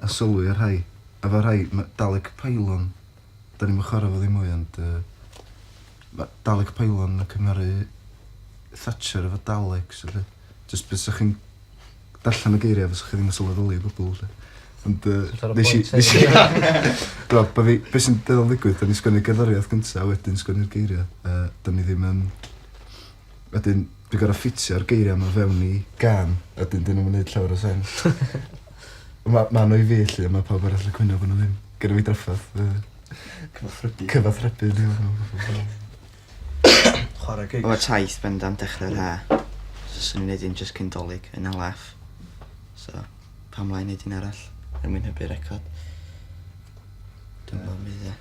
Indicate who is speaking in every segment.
Speaker 1: a sylwi ar rhai. Efo rhai ma' Dalek Pylon, 'dan ni'm yn chwara' fo ddim mwy ond yy ma' Dalek Pylon yn cymharu Thatcher efo Daleks felly jyst be' 'sach chi'n darllen y geiria' fysach chi ddim yn sylweddoli o gwbwl 'lly. Ond yy... Ti'n torri pwynt fi. ...nesh i nesh i t'mo' bo' fi be' sy'n dueddol ddigwydd 'dan ni'n sgwennu'r gerddoriath gynta a wedyn sgwennu'r geiria' yy 'dan ni ddim yn Wedyn dwi gor'o' ffitsio'r geiria' 'ma fewn i gân a 'dyn 'dyn nw'm yn neud llawer o sense. On' ma' ma' n'w i fi 'lly a ma' pawb arall yn cwyno bo' n'w ddim. Gynno fi draffarth yy cyfathrebu cyfathrebu efo n'w a phob dim.
Speaker 2: Chware gigs. O taith bendant
Speaker 3: dechre'r Ha'. So swn i'n neud un jyst cyn 'Dolig yn hala off. So pam lai neud un arall er mwyn hybu record. Dwi me'wl fydd e.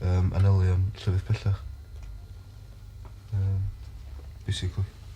Speaker 1: um, anelion llefydd pellach. Um, basically.